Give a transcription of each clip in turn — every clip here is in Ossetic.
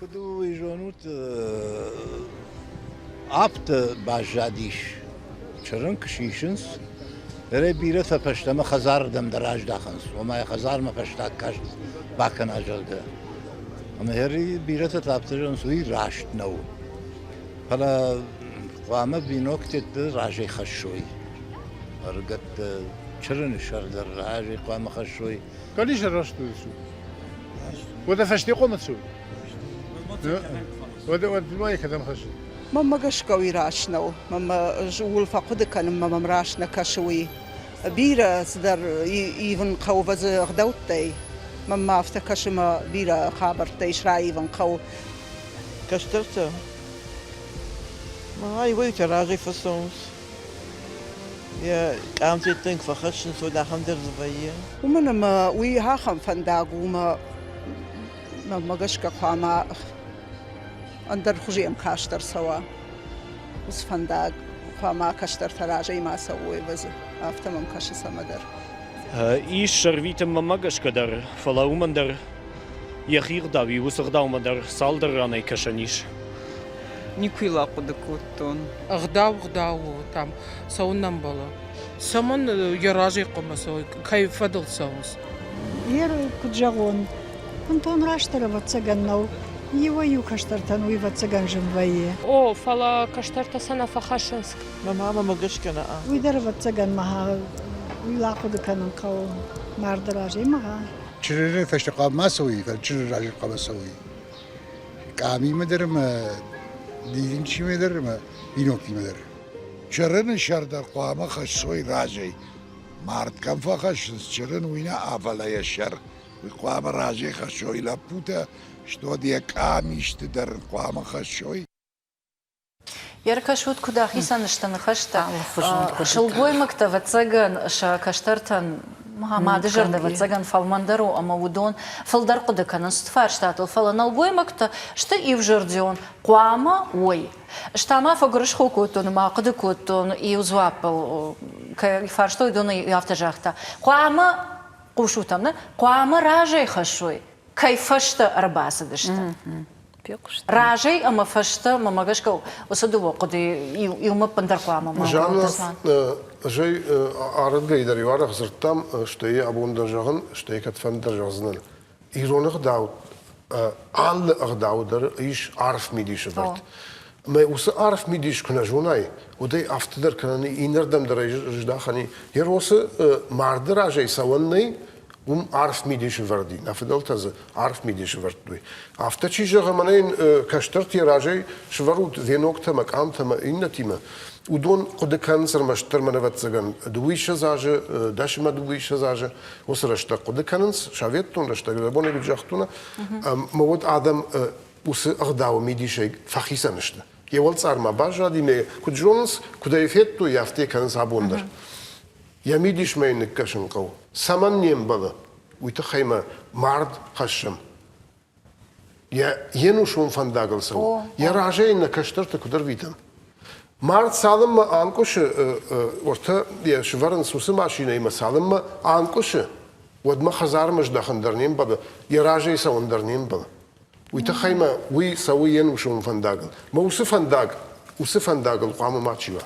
Куыд уый зонут, аптӕ баззадис, чырын куы сисынц, нырӕй бирӕтӕ фӕстӕмӕ хӕдзарырдӕм дӕр аздахынц, ома йӕ хӕдзармӕ фӕстаг каст бакӕна, зӕгъгӕ. Ӕмӕ ӕри бирӕтӕ та афтӕ зӕгъынц, уый раст нӕу. Фӕлӕ хъуамӕ биноктӕ разӕй хӕссой. Ӕрыгӕттӕ чырыны сӕр дӕр разӕй хъуамӕ хӕссой. Кӕд исӕрвӕрстой ису? Уӕдӕ фӕстехъомӕ цу? Уӕдӕ ма кӕдӕм хӕссы? Мӕммӕ гӕсгӕ уый раст нӕу. Мӕмӕ ууыл фӕхъуыды кӕнынмӕ мӕм раст нӕ кӕсы уый. Бирӕ цыдӕр ивын хъӕуы вӕдзы ӕгъдӕуттӕй. Мӕнмӕ афтӕ кӕсы мӕ бирӕ хабӕрттӕ ис раивын хъӕуы. Кӕстӕртӕ, ай уайтӕ разӕй фӕцӕуынц. Йӕ къамтӕттӕ куы фӕхӕссынц, уӕд ахӕм дӕр дзы вӕййы. Уымӕн ӕмӕ уый ахӕм фӕндаг у, ӕмӕ мӕнмӕ гӕсгӕ хъуамӕ ӕндӕр хуызы ӕмкаст ӕрцӕуа уыцы фӕндаг. Хъуамӕ кӕстӕртӕ разӕй ма цӕуой ӕвӕдзы. Афтӕ мӕм кӕсы цӕмӕдӕр. Ис ӕрвитынмӕ мӕ гӕсгӕ дӕр, фӕлӕ уымӕн дӕр Йӕхи ӕгъдау и уыцы ӕгъдаумӕ дӕр цалдӕр ранӕй кӕсӕн ис. Никуы йыл ахъуыды кодтон. Ӕгъдау ӕгъдау у, там цӕуын нӕ ӕмбӕлы. Цӕмӕн йӕ разӕй хъуамӕ цӕуой, кӕй фӕдыл цӕуынц? Ер, куд зӕгъон, бунтон растдӕр ӕвӕццӕгӕн нӕу, иуӕй-иу кӕстӕртӕн уый ӕвӕццӕгӕн зын вӕййы. О, фӕлӕ кӕстӕртӕ сӕ нӕ фӕхӕссынц. Мӕ мамӕмӕ гӕсгӕ нӕ. Уый дӕр ӕвӕццӕгӕн мӕ уый ахъуыды кӕнын хъӕуы марды разӕй мӕ. Чырыры фӕстӕхъӕл ма цӕуй, кӕд чырыр рази хъӕбӕр цӕуй. Къамимӕ дӕр ӕма дидинчимӕ дӕр ӕма биноктимӕ дӕр. Чырыны сӕр дӕр хъуамӕ хӕссой разӕй. Мард кӕм фӕхӕссынц чырын, уый нӕ авӕлӕ йӕ сӕр. Уый хъуамӕ разӕй хӕссой лӕппутӕ, стод йӕ къамисты дӕр хъуамӕ хӕссой. Ӕркӕсут, куыд ахицӕн сты ныхӕстӕ сылгоймӕгтӕ, ӕвӕццӕгӕн, сӕ кӕстӕртӕн мады зӕрдӕ, ӕвӕццӕгӕн, фӕлмӕндӕр у ӕмӕ уыдон фылдӕр хъуыды кӕнынц уыцы фарстатыл, фӕлӕ нӕлгоймӕгтӕ сты иузӕрдион, хъуамӕ уой. Ӕз та ма фӕгуырысхо кодтон ӕмӕ ахъуыды кодтон, иу дзуаппыл кӕй фарстой, уыдон иу афтӕ загъта, хъуамӕ хъусут ӕм, нӕ хъуамӕ разӕй хӕссой, кӕй фӕстӕ ӕрбацыдысты. Разӕй ӕмӕ фӕстӕ, мӕ гӕсгӕ, уыцы дыууӕ хъуыдыйы иумӕ ӕппындӕр хъуамӕ ма Жанна, зӕй арынгӕй дӕр иу арӕх дзырдтам, стӕй абон дӕр зӕгъын, стӕй кӕдфӕндӕр зӕгъдзынӕн. Ирон ӕгъдау, алы ӕгъдау дӕр ис арф мидисы бырт. Мӕ уыцы арф мидис куы нӕ зонай, уӕдӕй афтӕдӕр кӕнӕ иннӕрдӕм дӕр ӕй здахӕн, йӕ росы марды разӕй цӕуӕн нӕй, уым арф мидисы вӕрд и. Нӕ фыдӕлтӕ дзы арф мидисы вӕрдтой. Афтӕ чи зӕгъы, мӕнӕ йын кӕстӕртӕ разӕй свӕрут веноктӕ мӕ къамтӕ мӕ иннӕтимӕ, уыдон хъуыды кӕнынц ӕрмӕстдӕр мӕнӕвӕццӕгӕн дыууиссӕдз азы, дӕсимӕ дыууиссӕдз азы, уыцы рӕстӕг хъуыды кӕнынц, советон рӕстӕг, абон куыд загътон, ӕмӕ уӕд адӕм уыцы ӕгъдауы мидисӕй фӕхицӕн сты. Йӕ уӕлцъармӕ баззади, нӕ куыд зонынц, куыд ӕй федтой, афтӕ кӕнынц абон дӕр. Йӕ мидисмӕ йын ныккӕсын хъӕуы. Цӕмӕн не мбӕлы, уый тыххӕй мӕ мард хӕссӕм. Йӕ йе нусон фӕндагыл цӕуы. Йӕ разӕй нӕ кӕстӕрты куыд ӕрвитӕм? Мард цалынмӕ анкъуысы уыртӕ, йӕ сывӕрынц уыцы машинӕимӕ, цалынмӕ анкъуысы, уӕдмӕ хӕдзармӕ здӕхын дӕр не мбӕлы, йӕ разӕй цӕуын дӕр не мбӕлы. Уый тыххӕй ма уый цӕуы йе нусон фӕндагыл. Мӕ уыцы фӕндаг уыцы фӕндагыл хъуамӕ мачи уа.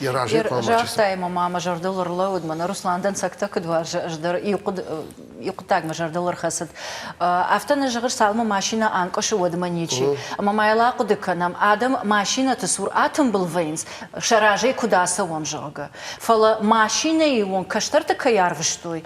Йӕ разӕй хъуамӕ Загъта ӕмӕ ма мӕ зӕрдыл ӕрлӕууыд, мӕнӕ Руслан дӕнцӕгтӕ куыд уарзы, ӕз дӕр иу хъуыд, иу хъуыддаг мӕ зӕрдыл ӕрхӕцыд. Афтӕ нӕ зӕгъыс, цалынмӕ машинӕ анкъуысы, уӕдмӕ ничи. Ӕмӕ ма йыл ахъуыды кӕнӕм, адӕм машинӕты цур атымбыл вӕййынц, сӕ разӕй куыд ацӕуӕм, зӕгъгӕ. Фӕлӕ машинӕйы онг кӕстӕрты кӕй арвыстой,